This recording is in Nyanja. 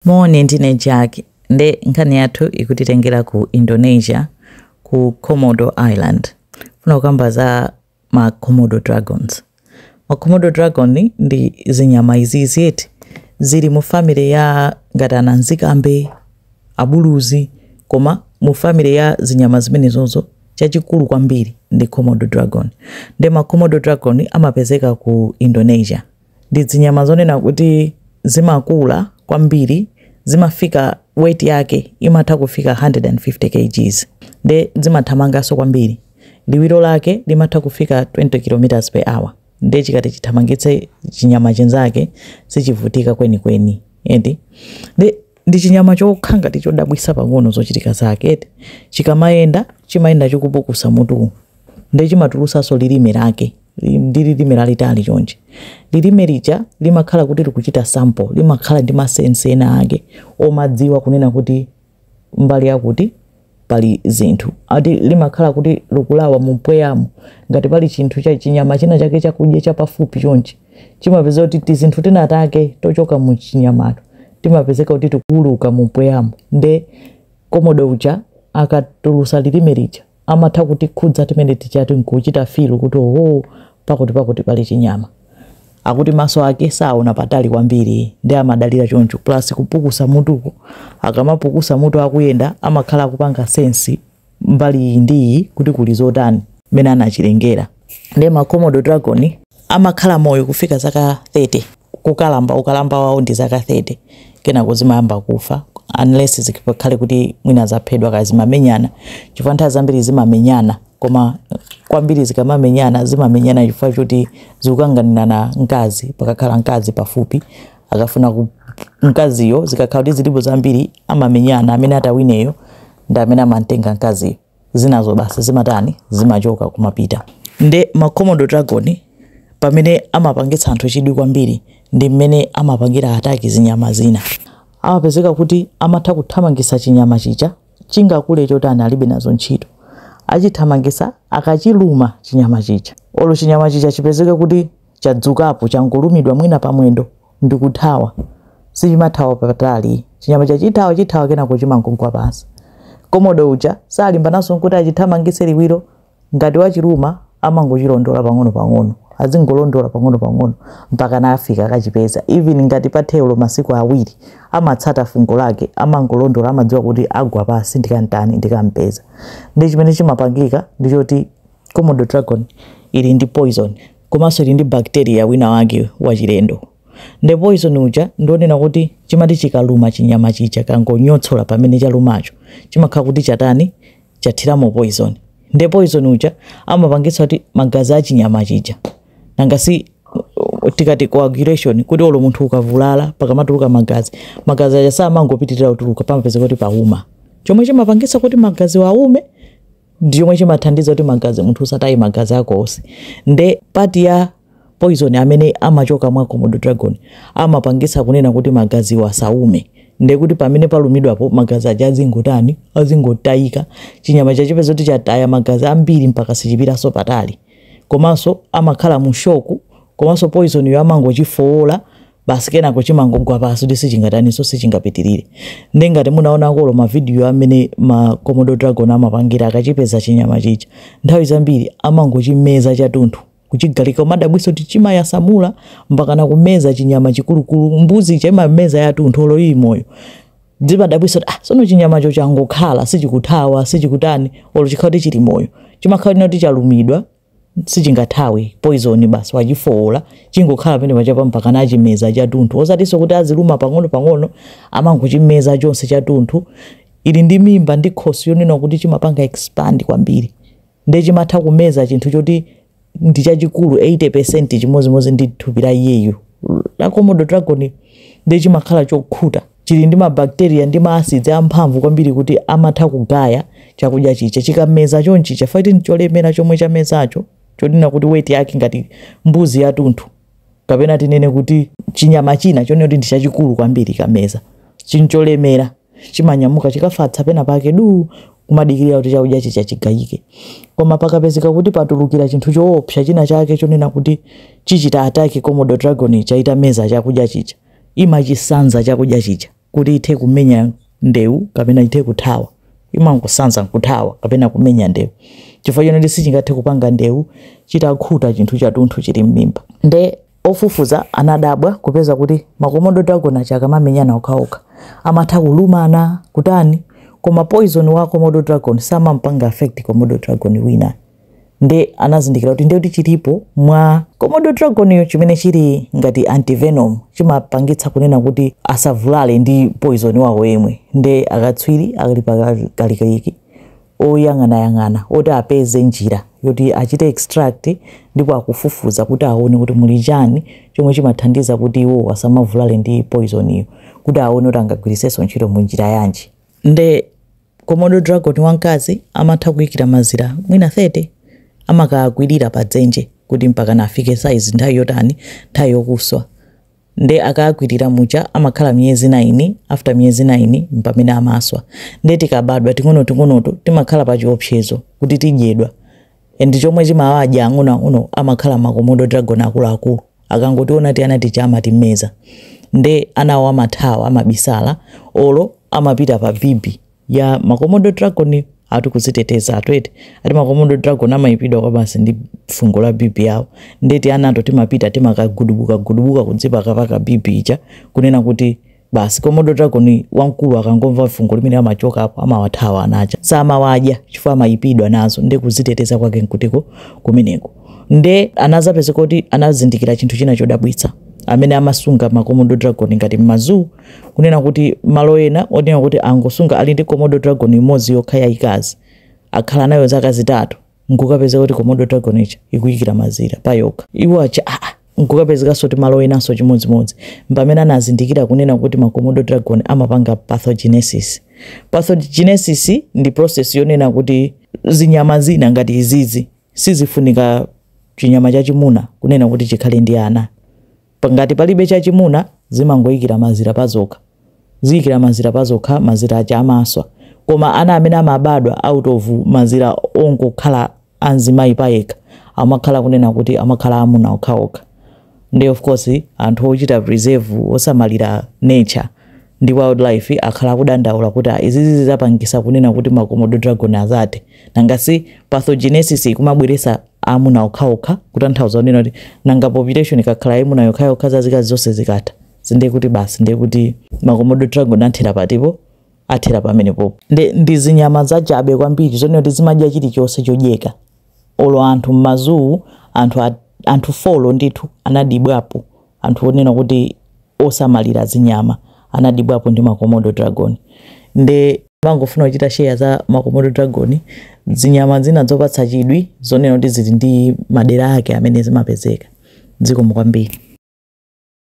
Moni, ndine Jack nde nkhani yathu ikutitengera ku Indonesia ku Komodo Island. Ndifuna kukamba za ma Komodo dragons. Ma Komodo dragon ndi zinyama izizi eti zili mu family ya ngati ananzikambe, abuluzi koma mu family ya zinyama zimenezozo chachikulu kwambiri ndi Komodo dragon. Nde ma Komodo dragon amapezeka ku Indonesia. Ndi zinyama zonena kuti zimakula kwambiri zimafika weight yake imatha kufika 150 kgs nde zimathamanganso kwambiri liwiro lake limatha kufika 20 kilometers per hour nde chikati chithamangitse chinyama chinzake sichivutika kwenikweni eti nde ndi chinyama chokha ngati chodabwisa pang'ono zochitika zake eti chikamayenda chimayenda chikupukusa mutu nde chimatulusanso lilime lake ndi lilime lalitali chonchi lilime lija limakhala kuti likuchita sample limakhala ndi masense ena ake omadziwa kunena kuti mbali yakuti pali zinthu ati limakhala kuti likulawa mumpweyamo ngati pali chinthu cha chinyama china chake chakudya chapafupi chonchi chimapeza kuti tizinthu tina take tochoka mu chinyamato timapezeka kuti tikuuluka mumpweyamo nde komodo uja akatulusa lilime lija amatha kutikhudza timene tija ati nkuchita feel kuti oho pakuti pakuti pali chinyama akuti maso ake saona patali kwambiri nde amadalira choncho plus kupukusa mutuko akamapukusa mutu akuyenda amakhala akupanga sense mbali iyi ndi iyi kuti kuli zotani mmene anachilengera nde ma Komodo dragon amakhala moyo kufika zaka 30 kukalamba ukalamba wawo ndi zaka 30 kenako zimayamba kufa unless zikhale kuti mwina zaphedwa kaya zimamenyana chifukwa nthawi zambiri zimamenyana koma kwambiri zikamamenyana zimamenyana chifukwa choti zikukanganirana mkazi pakakhala mkazi pafupi akafuna mkaziyo zikakhala kuti zilipo zambiri amamenyana amene atawineyo ndi amene amamtenga mkaziyo zinazo basi zimatani zimachoka kumapita nde ma Komodo dragon pamene amapangitsa anthu chidwi kwambiri ndi mmene amapangira attack zinyama zina amapezeka kuti amatha kuthamangisa chinyama chija chingakule chotani alibe nazo ntchito achithamangisa akachiluma chinyama chija olo chinyama chija chipezeke kuti chadzukapo changolumidwa mwina pamwendo ndikuthawa. Sichimathawa patali. Chinyama chija chithawa chithawa kenako chimangogwa pansi. Komodo uja salimbananso kuti achithamangitse liwiro. Ngati wachiluma amangochilondola pang'onopang'ono, azingolondola pang'onopang'ono mpakana afika akachipeza. Even ngati pathe olo masiku awiri, amatsata fungo lake, amangolondola, amadziwa kuti agwa pansi ndikam'tani, ndikam'peza. Ndiye chimene chimapangika ndi choti Komodo dragon ili ndi poison. komanso ili ndi bacteria wina wake wachilendo nde poison uja ndi wonena kuti chimati chikaluma chinyama chija chikangonyotsola pamene chalumacho chimakhala kuti chatani chathiramo poison nde poison uja amapangitsa kuti magazi a chinyama chija nanga si tikati coagulation kuti olo munthu ukavulala pakamatuluka magazi magazi aja samangopitirira kutuluka pamapezeka kuti pauma chomwe chimapangitsa kuti magaziwo aume ndi chomwe chimathandiza kuti magazi munthu usataye magazi ako onse nde part ya poison amene amachoka mwa komodo dragon amapangitsa kunena kuti magaziwo asaume nde kuti pamene palumidwapo magazi aja azingotani azingotayika chinyama chija chipezeka kuti chataya magazi ambiri mpaka sichipitanso patali komanso amakhala mu shoku komanso poisoniyo amangochifowola basi kenako chimangogwa pansi kuti sichingataninso sichingapitirire nde ngati munaonako olo mavidiyo amene ma komodo dragon amapangira akachipeza chinyama chija nthawi zambiri amangochimeza chathunthu kuchigalika umadabwitsa kuti chimayasamula mpaka nakumeza chinyama chikulukulu mbuzi chimameza yathunthu olo ili moyo zimadabwitsa kuti ah, sono chinyamacho changokhala sichikuthawa sichikutani olo chikhala kuti chili moyo chimakhala kuti chalumidwa sichingathawe poison basi wachifoola chingokhala pamene pajapa mpakana achimeza chathunthu osatinso kuti aziluma pang'ono pang'ono amangochimeza chonse chathunthu ili ndi mimba ndi khosi yonena kuti chimapanga expand kwambiri nde chimatha kumeza chinthu choti ndi chachikulu 80% chimodzimodzi ndi thupi la iyeyu la komodo dragon nde chimakhala chokhuta chili ndi mabakteriya ndi maasidzi amphamvu kwambiri kuti amatha kugaya chakudya chija chikameza chonchi chifukwa kuti ncholemera chomwe chamezacho chonena kuti weight yake ngati mbuzi yathunthu kapena tinene kuti chinyama china chonena kuti ndi chachikulu kwambiri chameza ndi cholemera chimanyamuka chikafatsa pena pake du kumadikirira kuti chakudya chija chigayike koma pakapezeka kuti patulukira chinthu choopsa china chake chonena kuti chichita attack komodo dragon ija itameza chakudya chija imachisanza chakudya chija kuti ithe kumenya ndewu kapena ithe kuthawa imangosanza nkuthawa kapena kumenya ndewu chifukwa chonena kuti sichingathe kupanga ndewu chitakhuta chinthu chathunthu chili m'mimba nde ofufuza anadabwa kupeza kuti makomodo dragon aja akamamenyana okhaokha amatha kulumana kutani koma poison wa komodo dragon samampanga affect komodo dragon wina nde anazindikira kuti ndekuti chilipo mwa komodo dragoniyo chimene chili ngati antivenom chimapangitsa kunena kuti asavulale ndi poison wawo yemwe nde akatswiri akali pakalikiliki oyang'anayang'ana oti apeze njira yoti achite extract ndipo akufufuza kuti aone kuti muli chani chomwe chimathandiza kuti iwo asamavulale ndi poison iyo kuti aone kuti angagwiritsenso ntchito mu njira yanji nde Komodo dragon wamkazi amatha kuikira mazira mwina 30, amakakwirira pa dzenje kuti mpaka nafike size nthawi yotani, nthawi yokuswa. Nde akakwirira muja amakhala miyezi 9, after miyezi 9 mpamene amaswa. Nde tikabadwa ting'onoting'onoto timakhala pa chiopsezo kuti tidyedwa. and chomwe chimawadya ang'onoang'ono amakhala makomodo dragon akuluakulu akangotiona tiana tija amatimmeza nde anawo amathawa amabisala olo amapita pa bibi ya makomodo dragon ati kuziteteza tiwete ati makomodo dragon amayipidwa kwabasi ndi fungo la bibi yawo ndeti tianato timapita timakagudubuka gudubuka kudzipakapaka bibi ija kunena kuti basi komodo dragon wamkulu akangomva fungo limeneli amachokapo amawathawa ana aja samawadya chifukwa amayipidwa nazo nde kuziteteza kwake nkutiko kumeneko nde anazapeza kuti anazindikira chinthu china chodabwitsa amene amasunga makomodo dragon ngati m'mazoo kunena kuti malo ena onena kuti angosunga ali ndi komodo dragon imodzi yokha yayikazi akhala nayo zaka zitatu nkukapezeka kuti komodo dragon ija ikuyikira mazira pa yokha iwo aja aa ah, ah, nkukapezekanso kuti malo enanso chimodzimodzi mpamene anazindikira kunena kuti makomodo dragon amapanga parthenogenesis parthenogenesis ndi process yonena kuti zinyama zina ngati izizi sizifunika chinyama chachimuna kunena kuti chikhale ndi ana Pa- ngati palibe chachimuna zimangoyikira mazira pazokha ziyikira mazira pazokha mazira aja amaswa koma ana amene amabadwa out of mazira ongokhala a mzimayi payekha amangokhala kunena kuti amakhala amuna okhaokha nde of course anthu ochita preserve osamalira nature ndi wildlife akhala akudandaula kuti "Ah, izizi zizapangisa kunena kuti makomodo dragon azathe nangasi parthenogenesis ikumabweresa amuna okhaokha kutanthauza kunena kuti nanga population ikakhala yayimuna yokhayokha zazikazi zonse zikatha sindiye kuti basi ndiye kuti makomodo dragon athera patipo athera pamenepopo nde ndi zinyama zachabe kwambiri zonena kuti zimadya chilichonse chodyeka olo anthu m'mazoo anthu, a- anthu folo ndithu anadibwapo Anthu onena kuti osamalira zinyama anadibwapo ndi ma Komodo dragon nde nimangofuna kuchita share za ma Komodo dragon, zinyama zina zopatsa chidwi zonena kuti zili ndi madera ake amene zimapezeka. Zikomo kwambiri.